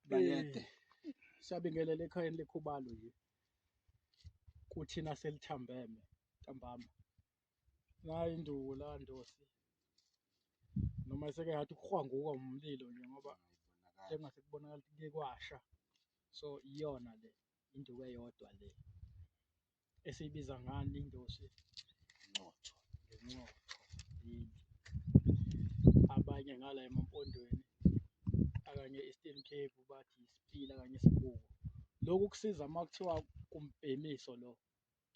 bayede eh, siyabingelela ekhayeni lekhubalo nje kuthina selithambeme ntambama nayo induku la ndosi noma seke ngathi kuhwanguka umlilo nje ngoba sengase kubonakala ukuthi kuye kwasha so iyona le induku eyodwa le esiyibiza ngani indosi nxotho ngenxotho yini abanye ngala emampondweni akanye Eastern Cape bathi isipila kanye isibuko lokhu kusiza uma kuthiwa kumbhemiso lo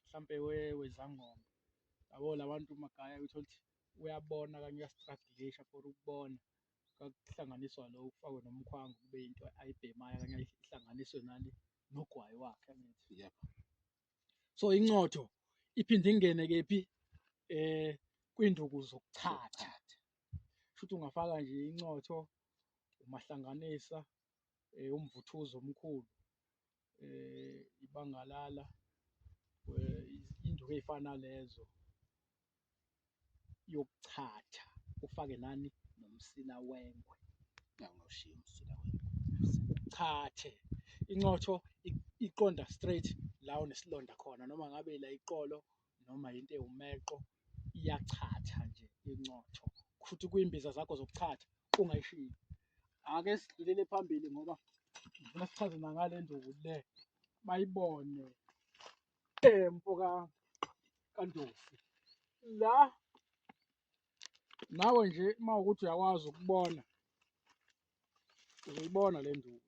mhlampe wezangoma yabo labantu magaya uthola ukuthi uyabona kanye uyastradilisha for ukubona kwakuhlanganiswa lo ufakwe nomkhwango kube into ayibhemayo kanye ihlanganiswe nale nogwayi wakhe angithi yep so incotho iphinde ingene kephi eh kwinduku zokuchatha futhi ungafaka nje incotho umahlanganisa eh umvuthuzo omkhulu eh ibangalala eh, induku ezifana lezo yokuchatha ufake nani nomsila wengwe ngawushiya umsila wengwe uchathe incotho iqonda straight la onesilonda khona noma ngabe la iqolo noma into ewumeqo iyachatha nje incotho futhi kuyimbiza zakho zokuchatha ungayishiyi ake sidlulele phambili ngoba ngifuna sichaze nangale nduku le bayibone Eh mfoka kaNdosi. La nawe nje uma ukuthi uyakwazi ukubona uzoyibona le nduku.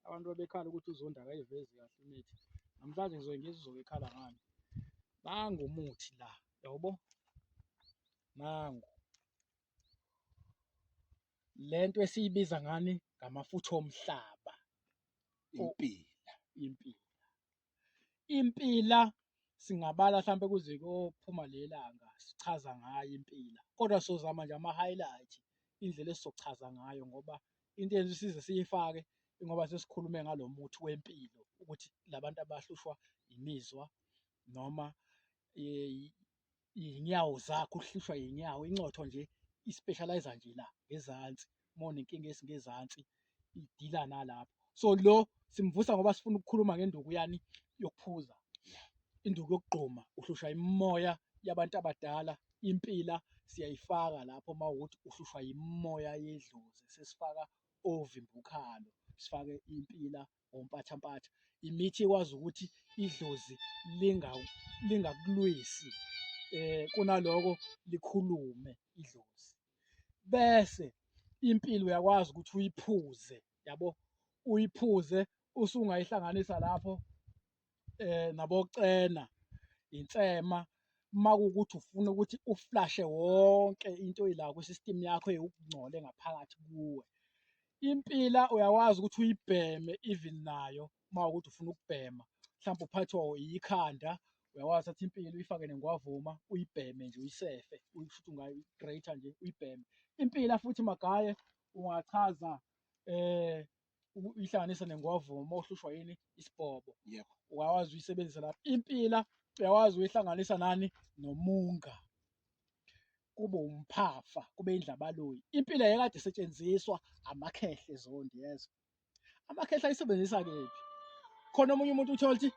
Abantu babekhala ukuthi uZondi akayivezi kahle imithi. Namhlanje ngizoke ngizwe uzokekhala ngani. Nangu umuthi la, yabo? Nangu. Le nto esiyibiza ngani ngamafutha omhlaba. impila impila impila singabala mhlampe kuze kophuma lelanga sichaza ngayo impila kodwa sozama nje ama highlight indlela esizochaza ngayo ngoba into yenza isize siyifake ngoba sesikhulume ngalomuthi wempilo ukuthi labantu abahlushwa imizwa noma iy'nyawo zakho uhlushwa iy'nyawo incotho nje i-specialize nje la ngezansi uma unenkinga esingezansi idila nalapho so lo simvusa ngoba sifuna ukukhuluma ngenduku yani yokuphuza induku yokugquma uhlushwa imimoya yabantu abadala impila siyayifaka lapho uma ukuthi uhlushwa yimimoya yedlozi sesifaka ovimbukhalo sifake impila ngompathampatha imithi ekwazi ukuthi idlozi lingakulwisi eh kunaloko likhulume idlozi bese impilo uyakwazi ukuthi uyiphuze yabo uyiphuze usungayihlanganisa lapho eh nabocena insema uma kuwukuthi ufuna ukuthi uflashe wonke into oyila kwi-system yakho eyokungcole ngaphakathi kuwe impila uyakwazi ukuthi uyibheme even nayo uma ukuthi ufuna ukubhema mhlawumbe uphathwa yikhanda uyakwazi thatha impilo uyifake nengwavuma uyibheme nje uyisefe futhi ungayi-greater nje uyibheme impila futhi magaye ungachaza eh uku- uyihlanganise nengovo uma uhlushwa yini isibhobo Yebo. uyawazi uyisebenzisa lapho impila uyawazi uyihlanganisa nani nomunga kube umphafa kube indlabaloyi impila yekade isetshenziswa amakhehle zondi yezo amakhehle ayisebenzisa kephi khona omunye umuntu uthola ukuthi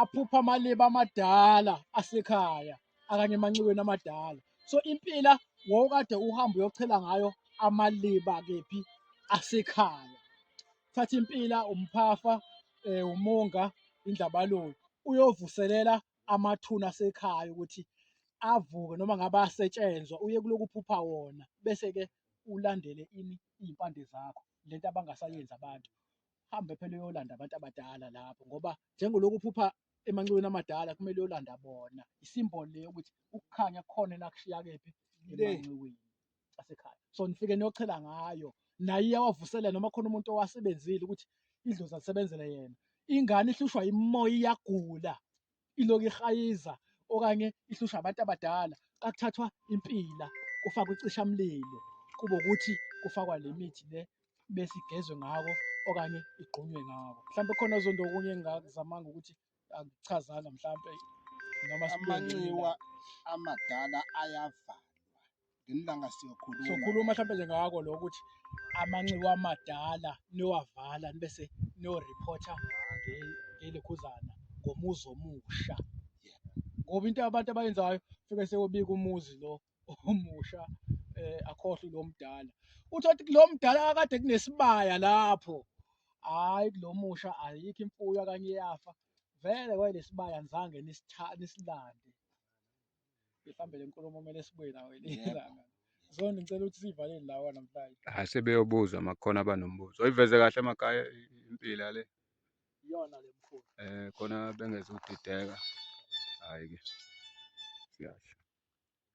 aphupha amaliba amadala asekhaya akanye emanxiweni amadala so impila wawukade uhamba uyochela ngayo amaliba kephi asekhaya thatha impila umphafa eh, umonga indlabalolo uyovuselela amathuna asekhaya ukuthi avuke noma ngabe asetshenzwa uye kuloku phupha wona bese-ke ulandele ini iy'mpande zakho lento abangasayenzi abantu hambe phela uyolanda abantu abadala lapho ngoba njengolokhu uphupha emanxiweni amadala kumele uyolanda bona isimboli leyo ukuthi ukukhanya kukhona nakushiya kephi Le. emanxiweni asekhaya so nifike niyochela ngayo naye iyawavusela noma khona umuntu owasebenzile ukuthi idlozi alisebenzele yena ingane ihlushwa imimoya iyagula iloku irhayiza okanye ihlushwa abantu abadala kakuthathwa impila kufakwa icishamlilo kube ukuthi kufakwa le mithi le bese igezwe ngako okanye igqunywe ngako mhlawumbe khona zonto okunye engingakuzamanga ukuthi akuchazanga mhlawumbe noma amanxiwa amadala ayavalwa ngelilanga siyokhuluma sokhuluma mhlawumbe nje ngako lo ukuthi amanxiwa amadala niyowavala nibese niyoreporter ngelekhuzana ngomuzi omusha ngoba into abantu abayenzayo fike seyobika umuzi lo omusha eh akhohlwe lo mdala uthi othi kulo mdala akade kunesibaya lapho hayi kulomusha ayikho imfuyo akanye yafa vele kwayilesibaya ngizange nisilande Mhlambe le nkulumo kumele sibuye nayo elinye Yebo. ilanga. Zondi ngicela ukuthi siyivalele lawa namhlanje. Hayi sebeyobuzwa makukhona abanombuzo. Oyiveze kahle emakhaya impilo yale. Iyona le mkhulu. Eh khona bengezudideka. Hayi ke. Siyasho.